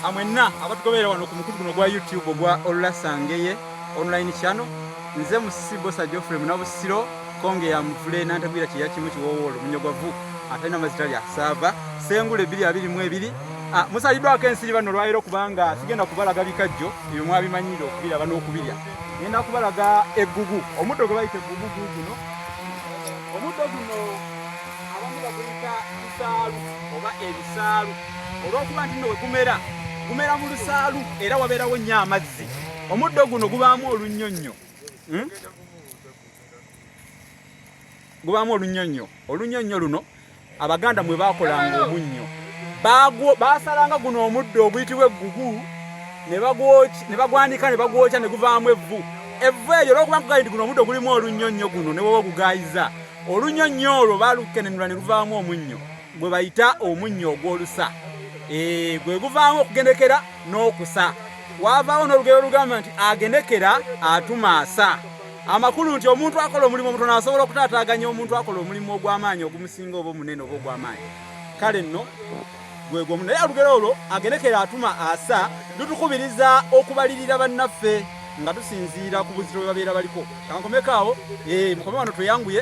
amwenna abatugoberera wano ku mukutu guno gwa youtube ogwa olulasangeye online channel nze musisi bosa geoffrey munabusiro konge ya muvule nantagwira kyeya kimu kiwowolo munyogwavu atalina mazita lya saava sengula ebiri abiri mu ebiri ah, musaliddwako ensiri bano olwaliro kubanga sigenda kubalaga bikajjo ebyo mwabimanyire okubiraba n'okubirya ngenda kubalaga eggugu omuddo gwe bayita eggugu guguno omuddo guno abamu baguyita bisaalu oba ebisaalu olw'okuba nti nno we gumera gumera mu lusaalu era wabeerawo nnyo amazzi omuddo guno gubaamu olunnyonnyo hmm? gubaamu olunnyonnyo olunnyonnyo luno abaganda mwe baakolanga omunnyo baasalanga guno omuddo oguyitibwa eggugu ne bagwanika ne bagwokya ne guvaamu evvu evvu eryo olwokuba nkugayi nti guno omuddo gulimu olunnyonnyo guno ne woba ogugaayiza olunnyonnyo olwo baalukenenula ne luvaamu omunnyo gwe bayita omunnyo ogw'olusa eh, gwe guvaamu okugendekera n'okusa waavaawo n'olugero olugamba nti agendekera atumaasa amakulu nti omuntu akola omulimu omutono asobola okutaataaganya omuntu akola omulimu ogw'amaanyi ogumusinga oba omunene oba ogw'amaanyi kale nno gwegwomu naye olugero olwo agendekera atuma asa lutukubiriza okubalirira bannaffe nga tusinziira ku buzito bwe babeera baliko kankomeko awo eh, mukome wano tweyanguye